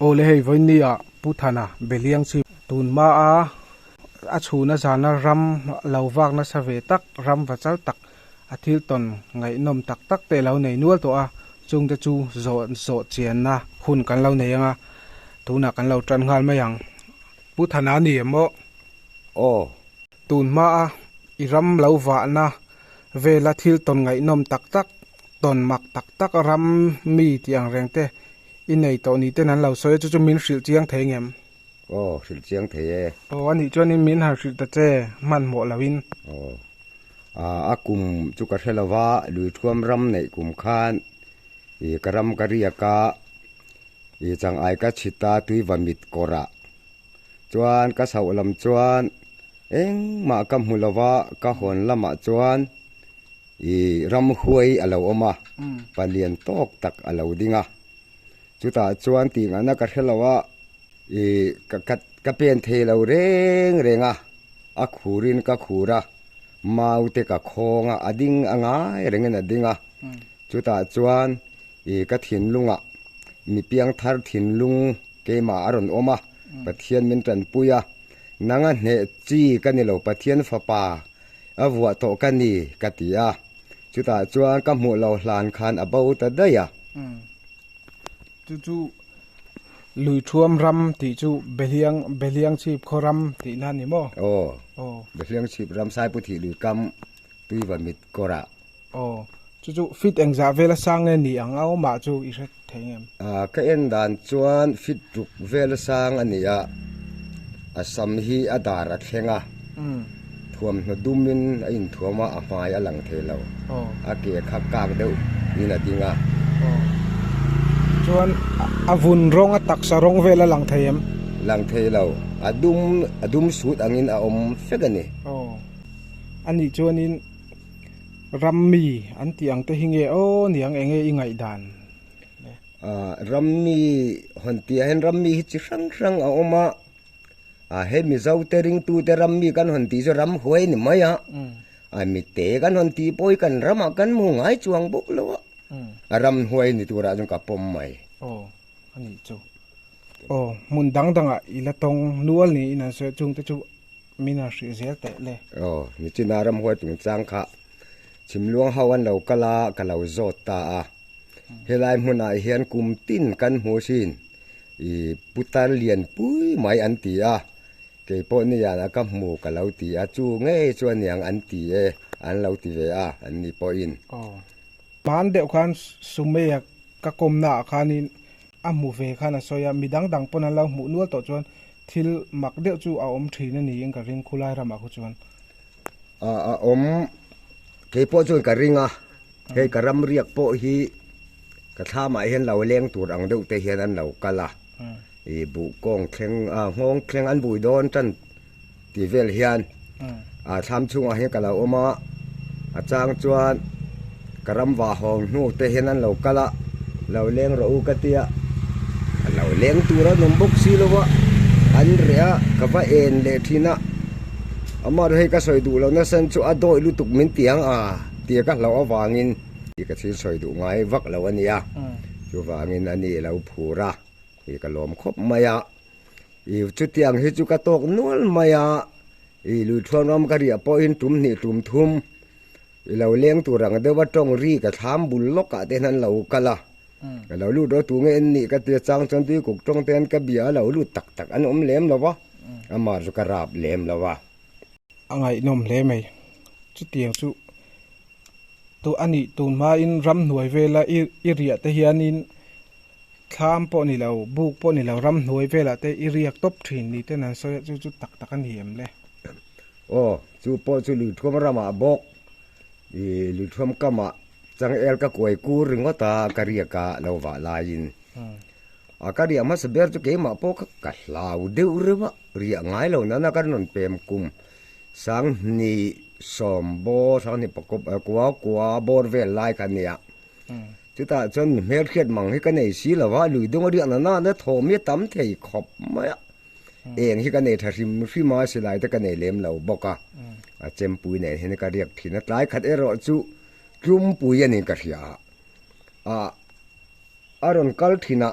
Awle hei vawinia Pu Thana Beliang chu tun hmaa a chhuna zana ram lo vak nasa ve tak, ram va chal tak, a thil tawn ngaihnawm tak tak te alo nei nual tawh a, chungte chu zawh zawh chianna hun kan lo nei ang a, tunah kan lo tan nghal mai ang. Pu Thana ni emaw? Aw. Tun hmaa i ram lo vahna vela thil tawn ngaihnawm tak tak, tawn mak tak tak ram mi tih ang reng te i nei tawh ni ten an lo sawi a, chu chu min hrilh chiang thei ngem? Aw, hrilh chiang thei e. Aw, anih chuanin min han hrilh ta che, hmanhmawh loin. Aw, ah, a kum chu ka hre lova, lui thuam ram neih kum khan ih ka ram ka riak a, ih changai ka chhit a tui va mit kawrah chuan ka sauh lam chuan engmah ka hmu lova, ka hawn lamah chuan. I ramhuai a lo awm a, pa lian tawk tak a lo ding a. Chutah chuan tinghahna ka hre lo a, i ka ka pen thei lo reng reng a, a khurin ka khur a, mau te ka khawng a, a ding a ngai rengin a ding a. Chutah chuan i ka thinlungah mi piangthar thinlung keimah a rawn awm a, Pathian min tanpui a, nanga hneh chi ka ni lo, Pathian Fapa, A vuah tawh ka ni, ka ti a. Chutah chuan ka hmuh lo hlan khan a bo ta daih a. Chu chu Lui Thuam ram tih chu Behliang, Behliang chhip khaw ram tih na a ni maw? Aw. Aw. Behliang chhip ram Saiputhih lui kam Tuiva mit kawrah. Aw, chu chu fit engzah vel a sang nge ni ang a awm ah chu i hre thei ngem? Aw, ka en dan chuan fit tuk vel a sang a ni a, a sam hi a dar a thleng a, thuamhnaw dum in a in thuam a, a hmai a lang thei lo, a ke kha kak deuh in a ding a. Aw, chuan a vun rawng a taksa rawng vel a lang thei em? Lang thei lo, a dum, a dum sut ang in a awm fek a ni. Aw, a nih chuan in. Ram mi an tih ang te hi nge aw niang enge i ngaih dan? Ram mi hawn tih ah hian ram mi hi chi hrang hrang a awm a, he Mizo te ring tu te ram mi kan hawn tih chu ram huai ni mai a, mi te kan hawn tih pawh hi kan ram ah kan hmu ngai chuang bawk lo a, a ram huai ni tur ah chuan ka pawm mai. Aw a nih chu, aw hmun dang dang ah i la tawng nual niin an sawi a, chung te chu Min a hrih zel teh le. Aw, mi chuna ram huai tung chang kha chhim luang ho an lo kal a, ka lo zawt ta a. Helai hmunah hian kum tin kan hmu sin i putar lian pui mai an ti a, kei pawh nian a ka hmu ka lo ti a, chu ngei chu aniang an ti e, an lo ti ve a anni pawhin. Aw. Hman deuh khan Sumeia ka kawmnaah khanin A hmu ve khan a sawi a, mi dang dang pawn an lo hmuh nual tawh chuan thil mak deuh chu a awm thin a niin ka ring, khulai ramah khu chuan. A a awm, keipawh chuan ka ring a, hei ka ram riak pawh hi ka thla mah hian lo leng tur ang deuh te hian an lo kal a, i buh kawng thleng, nghawng thleng an bui dawn tan. tih vel hian a thlam chungah hian ka lo awm a a chang chuan ka ram vahawng hnu te hian an lo kal a lo leng rawh u ka ti a a lo leng tur a nawm bawk si lo va an reh a ka va en leh thin a amaherawh hei ka sawi duh loh nasa chu a dawih lutuk min ti ang a tia ka hlauh avangin i ka thil sawi duh ngai vak lo a nia chuvangin ani lo phur a i ka lawm khawp mai a. Ih chutiang hi chu ka tawk nual mai a, ih lui thluan ram ka riah pawhin tum hnih tum thum i lo leng tur ang deuh a, tawng ri ka thlam bul lawkah te hian an lo kal a, ka lo lut rawh tu nge en nih ka ti achang chuan tuikuk tawng te hian ka bia a lo lut tak tak an awm lem lo va, amah chu ka rap lem lo a. A ngaihnawm hle mai, chutiang chu tu a nih tun hmain ram hnuai vela i riah te hianin. Thlam pawh ni lo, buk pawh ni lo, ramhnuai velah te i riak tawp thin ni ten an sawi a, chu chu tak tak a ni em le? Aw, chu pawh chu lirthuam ramah bawk, i lirthuam kamah changel ka kuai kur ringawt a, ka riak a, lo vah laiin. A ka riak hmasa ber chu keimah pawh kha ka hlau deuh reuh a, riah ngai lo nana ka rawn pem kum. Sanghnih, Sawmbaw, Sanghnih pakua, Kuaukua, Bawr vel lai kha a ni a. Chutah chuan mi hmelhriat mang hi ka nei si lo a, lui dawng a riah na nain a thawh mi a tam thei khawp mai a, eng hi ka nei tha hrim hrim a, silai te ka nei lem lo bawk a, a Chempui nen hian ka riak thin a, tlai khat erawh chu Tlumpuia nen ka hria a, a rawn kal thin a,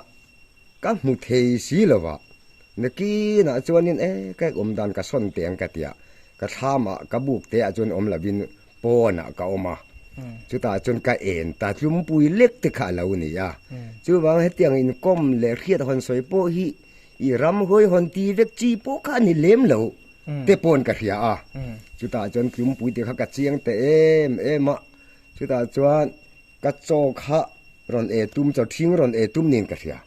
Ka hmu thei si lo a, na kin ah chuan in e ka awm dan ka sawn teh ang ka ti a, ka thlam ah ka buk te ah chuan awm lo in pawn ah ka awm a, chutah chuan ka en ta tlumpui lek te kha a lo ni a, chuvang hetiang in kawm leh hriat hawn sawi pawh hi i ram hawi hawn ti vek chi pawh kha a ni lem lo te pawn ka hria a, chutah chuan tlumpui te kha ka chiang ta em em a, chutah chuan. Ka chaw kha rawn ei tum, chaw thing rawn ei tum niin ka hria.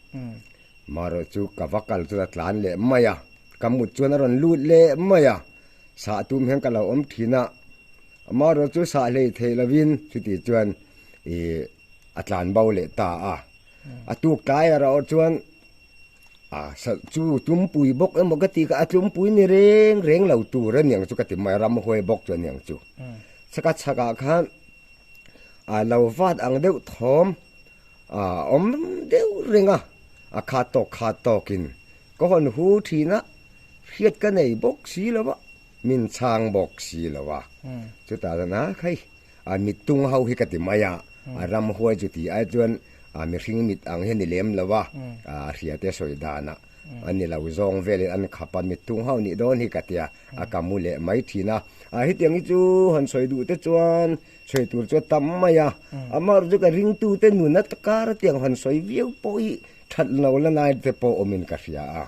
Maherawh chu ka va kal chuan a tlan leh mai a, ka mut chuan a rawn lut leh mai a, sah tum hian ka lo awm thin a, Maherawh chu sah hlei theih lovin chutih chuan ih a tlan bo leh ta a. A tuk tlai erawh chuan a chu tumpui bawk emaw ka tih kha, a tumpui ni reng reng lo tur a ni ang chu ka ti mai a, ramhuai bawk chu a ni ang chu. Ka chhakah khan. a lo vat ang deuh thawm a awm deuh reng a, a khat tawk khat tawkin ka hawn hu thin a, hriat ka nei bawk si lo a, min chhang bawk si lo a, chutah chuan a khai a mit tung ho hi ka ti mai a, a ram huai chu ti ai chuan a mihring mit ang hi a ni lem lo a, a hriate sawi danah A ni lo, zawng velin an khap a, mitthung ho nih dawn hi ka ti a, a ka mu leh mai thin a. A hetiang hi chu han sawi duh te chuan sawi tur chu a tam mai a, amaherawh chu ka ringtu te nun a kar atiang han sawi viau pawh hi that lo la nai te pawh awmin ka hria a.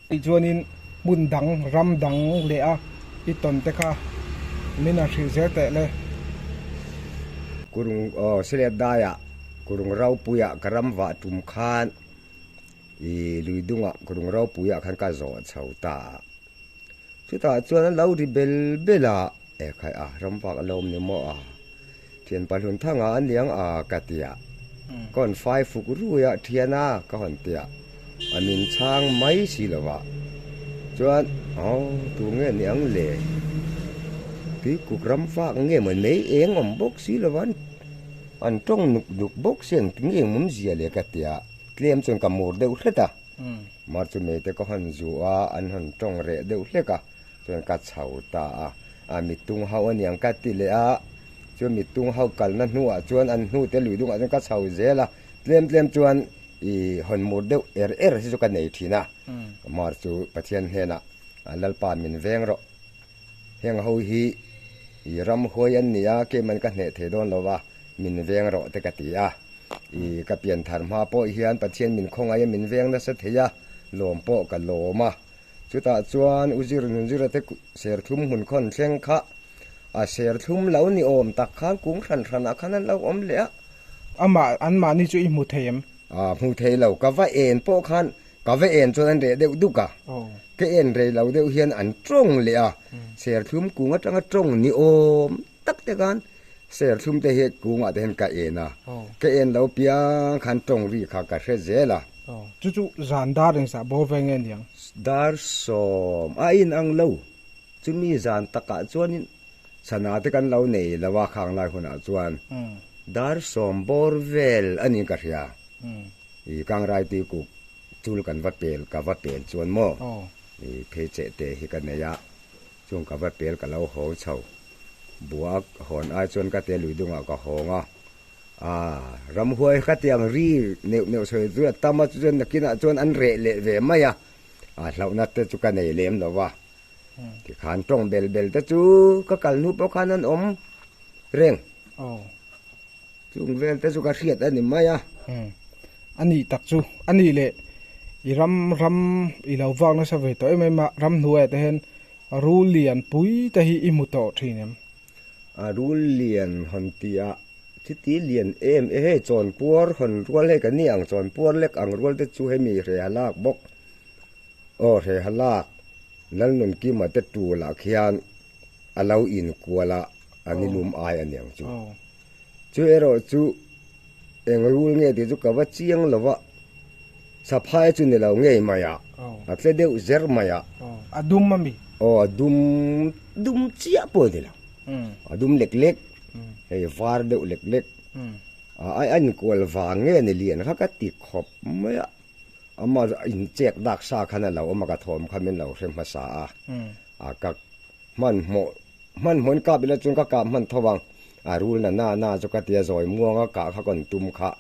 Tichuanin hmun dang, ram dang leh a i tawn te kha min han hrilh zel teh le. Kurung, aw, Siletdaiah, Kurungraupuia ka ram vah tum khan I lui dunga rung ropui ah khan ka zawh chho ta a, chutah chuan an lo ri bel bel a, e khai a ram vak a lo awm ni maw a, thian pa hlun thang a aniang a ka ti a, ka hawn fai fuk rui a thian a ka hawn ti a, a min chhang mai si lo a, chuan aw tu nge ni ang le, tui kuk ram vak nge maw mei eng awm bawk si lo a, an tawng nuk nuk bawk si ang ti nge mawmzia le ka ti a. Tlem chuan ka mur deuh hret a, mar chu meite ka hawn zu a, an hawn tawng reh deuh hlek a, chuan ka chho ta a, a mittung ho aniang ka ti leh a, chuan mittung ho kalna hnuah chuan an hnute lui dungah chuan ka chho zel a, tlem tlem chuan i hawn mur deuh er er hi chu ka nei thin a, mar chu Pathian hnenah Lalpa min veng rawh. Heng ho hi ih ram huai an ni a, kei man ka hneh thei dawn lo va, min veng rawh te ka ti a. Ih ka pian thar hma pawh hian Pathian min khawngaih a min veng nasa thei a, lawm pawh ka lawm a. Chutah chuan U Zir Nunzira te serthlum hmun khawn thleng kha a serthlum lo ni awm tak khan kung hran hran ah khan an lo awm leh a. Amah, anmahni chu i hmu thei em? Ahh, hmu thei lo. Ka va en pawh khan Ka va en chuan an reh deuh duk a, ka en rei lo deuh hian an tawng leh a, serthlum kung atanga tawng ni awm tak te khan serthlum te hi kungah te hian ka en a, ka en lo piang khan tawng ri kha ka hre zel a. Chu chu zan dar in sah bo ve nge niang? Dar sawm a in ang lo, chumi zan takah chuanin sana te kan lo nei lo a khang lai hunah chuan dar sawm bawr vel anih ka hria. I kang rai ti kuk chul kan va pel ka va pel chuan maw I phei che te hi ka nei a chung ka va pel ka lo haw chho bua hawn ai chuan ka te lui dung ah ka hawng a ah ram huai kha tiang ri neuh neuh sawi zui a tam a chu chuan nakin ah chuan an reh leh ve mai a ah hlauh na te chu ka nei lem lo a. Tikhan tawng bel bel te chu ka kal nu pawh khan an awm reng. Oh. Chung vel te chu ka hriat a ni mai a. Hmm. A nih tak chu, a nih leh i ram ram i lo vak nasa ve tawh em em a, ram hnuaia te hian rul lian pui te hi i hmu tawh thin em? A rul lian hawn tia chiti lian em e hei chawn puar hawn rual hei ka ni ang, chawn puar lek ang rual te chu hemi hre a lak bawk. Aw hreha lak Lalnun kima te tul ah khian a lo in kual a an i lum ai a niang chu. Chu erawh chu eng rul nge tih chu ka va chiang lo va, Saphai chu ni lo ngei mai a, a tle deuh zer mai a. A dum a mi? Aw a dum dum chiah pawh ni lo, a dum lek lek, hei var deuh lek lek, a in kual vang nge ni lian kha ka ti khawp mai a. Ama in chek dak sa khan a lo awm a, ka thawm kha min lo hre hmasa a, a ka hmanhmawh hmanhmawhin kap ila chuan ka kap hman tho vang, a rul na na na chu ka ti a, zawimuang a kah kha kawn tum kha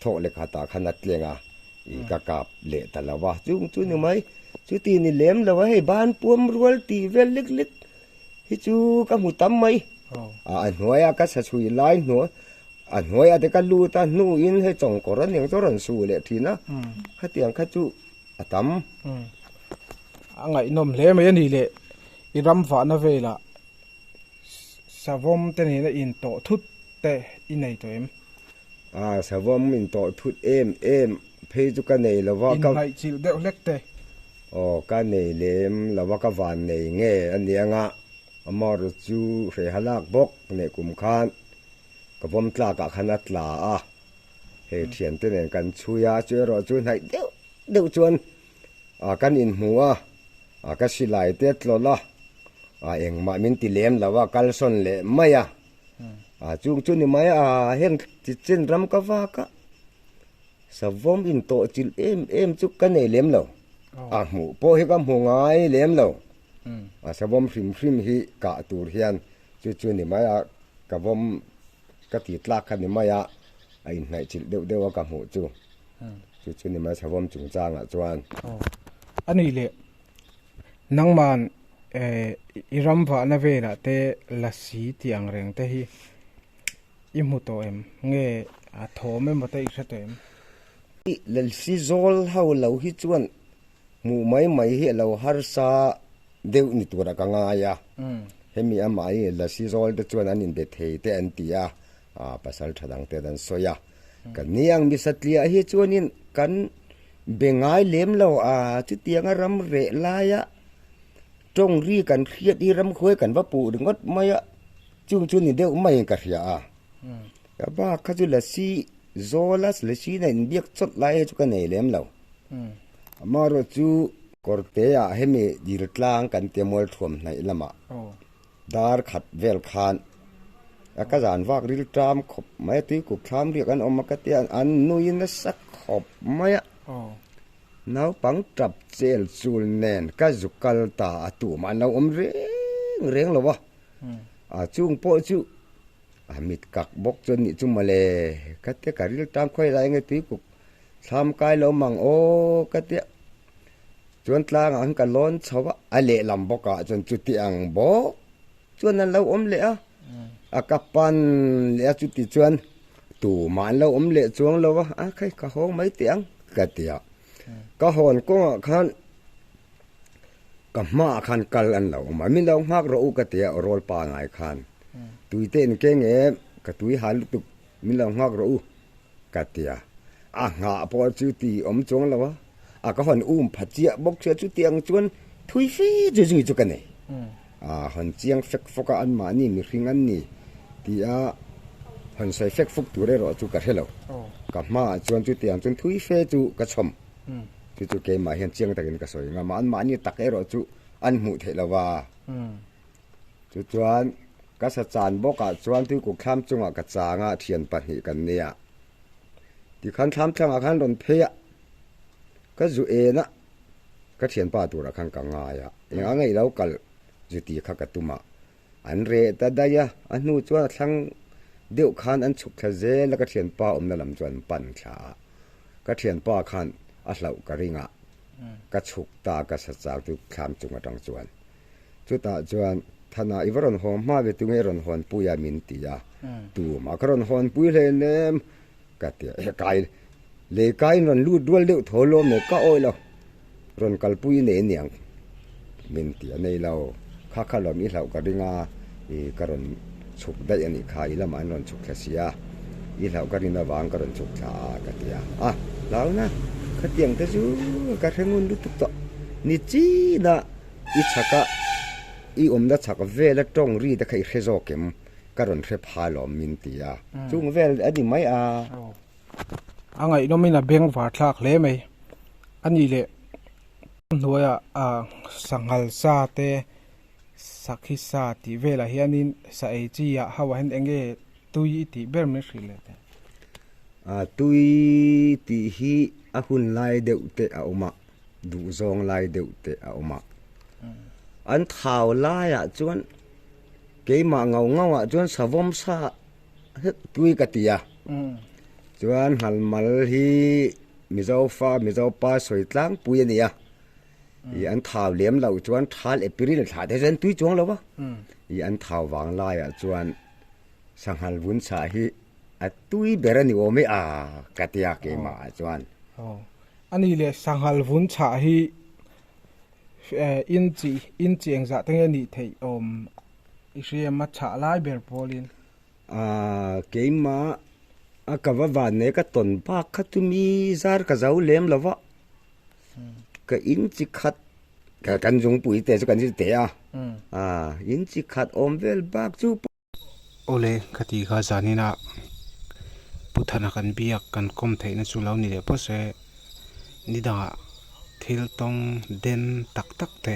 thawh leh khat ah khan a tleng a, ih ka kap leh ta lo va, chung chu ni mai, chuti ni lem lo a hei, banpuam rual tih vel lik lik. Hi chu ka hmu tam mai. A a hnuai a ka sachuih lai hnuah a hnuai a te ka lut a, hnu in hei chawngkawr a ning chu a rawn su leh thin a, khatiang kha chu a tam. A ngaihnawm hle mai a nih leh, i ram vahna velah savawm te nena in tawh thut te i nei tawh em? A savawm in tawh thut em em phei chu ka nei lo va. Inhnaihchilh deuh hlek te. Aw ka nei lem lova ka van nei nge a ni anga amaru chu hreha lak bawk neh kum khan ka vawm tlakah khan a tla a, hei thian te nen kan chhui a chu erawh chu hnaih deuh deuh chuan a kan in hmu a, a ka silai te tlawlh a, a engmah min ti lem lo a kalsawn leh mai a, a chung chu ni mai a a heng chi chin ram ka vak a. Savawm in tawhchilh em em chu ka nei lem lo, a hmuh pawh hi ka hmu ngai lem lo. A savawm hrim hrim hi kah tur hian chu chu ni mai a, ka vawm ka ti tlak kha ni mai a, a inhnaihchilh deuh deuh a ka hmuh chu. Chu chu ni mai savawm chung changah chuan. Aw, a nih leh. Nangman i ram vahna velah te la si tih angreng te hi I hmu tawh em? Nge a thawm em awt a, i hre tawh em? I lelsi zawl ho lo hi chuan hmuh mai mai hi a lo harsa deuh ni tura ka ngai a, hemi amahin i lelsi zawl te chuan an inbe thei teh an ti a, pasal tha dang ten an sawi a. Ka niang Misatliah hi chuanin kan be ngai lem lo a, chutianga ram reh laia tawngri kan hriat hi ramkhuai kan va puh ringawt mai a, Chung chu ni deuh maiin ka hria a, ka ba kha chu lasi zawla lasina inbiak chawlh lai chu ka nei lem lo. Amaherawhchu chu Kawrteah hemi Dirtlang kan ti a Mualthuam hnaih lamah dar khat vel khan a ka zan vak ril ṭam khawp mai a, tuikuk thlam riak an awm a ka ti a, an nui nasak khawp mai a, naupang ṭap chel chul nen ka zu kal ta a tumah an lo awm reng reng lo a. A chung pawh chu a mit kak bawk chuan nih chu mawle ka tia ka riltang khuai la enge tuipuk thlam kai lo mang aw ka tia chuan tlangah khan ka lawn chho va a lehlam bawkah chuan chuti ang bawk chuan an lo awm leh a a ka pan leh a chuti chuan tumah an lo awm leh chuang lo va a khai ka hawng mai teh ang ka tia. ka hawn kawng ah khan ka hma ah khan kal an lo awm a min lo nghak rawh u ka ti a rawl pa ngai khan tui te in keng em ka tui han lutuk min lo nghak rawh u ka ti a a nghah pawh chu ti awm chuang lo a a ka hawn um phat chiah bawk sia chu tiang chuan thui fe chu zui chu ka nei A han chiang fek fawk a, anmahni mihring an ni tih a han sawi fek fuk tur erawh chu ka hre lo. Ka hmaah chuan chutiang chuan thui fe chu ka chhawm. Chu chu keimah hian chiang takin ka sawi ngam a, anmahni tak erawh chu an hmuh theih lo va. Chu chuan ka sa chan bawkah chuan tuikuk thlam chungah ka chang a, thian pahnih kan nei a. Tikhan thlamtlangah khan rawn phei a, ka zu en a, Ka thianpa turah khan ka ngai a, eng anga i lo kalh zuti kha ka tum a, an reh ta daih a, a hnu chuan a thlang deuh khan an chhuk thla zel a, ka thianpa awmna lam chuan an pan thla a, ka thianpa khan a hlauh ka ring a, ka chhuk ta ka sa chak chu thlam chung atang chuan. Chutah chuan Thana i va rawn haw hma ve tunge rawn hawnpui a min ti a, tum a ka rawn hawnpui hlei em em, Ka ti a, Kai, lei kaiin rawn lut rual deuh tho lawm mai, ka awih lo, rawn kalpui nei niang, min ti a nei lo, kha kha lawm i hlauh ka ring a, i ka rawn chhuk daih a nih kha, i lamah an rawn chhuk thla si a, i hlauh ka rin avang ka rawn chhuk thla a, ka ti a, a lau na, khatiang te chu ka hre ngun lutuk tawh, ni chin a i chhak a, i awmna chhak vel a tawng ri te kha i hre zawk em? ka rawn hre phai lawm min ti a, chung vel a ni mai a. A ngaihnawm in a beng var thlak hle mai a nih leh. Ka hnuaia sanghal sa te sakhi sa tih velah hianin sa ei chi ah ho ah hian eng nge tui i tih ber min hrih leh teh? Tui tih hi a hun lai deuh te a awm a, duhzawng lai deuh te a awm a. An thau laiah chuan. Keimah ngau ngau ah chuan savawm sa hek tui ka ti a, chuan hnalmal hi Mizo fa Mizo pa sawi tlangpui a nia, ih an thau lem loh chuan thal April thla te hian tui chuang lo va, ih an thau vang lai ah chuan sanghal vun sa hi a tui ber a ni awm e a ka ti a keimah ah chuan. Aw, a ni le sanghal vun sa hi In chi in chi eng zah te nge nih theih awm i hriam a chhah lai ber pawlin. Aaa keima a ka va van mai ka tawn bak kha tumi zar ka zo lem lo va, ka in chi khat kan zungpuite chu kan zir teh a, aaa in chi khat awm vel bak chu paw. Awle, ka ti kha zan in a pu thana kan biak kan kawm theih na chu lo ni leh pawh se, ni dangah thil tawng den tak tak te,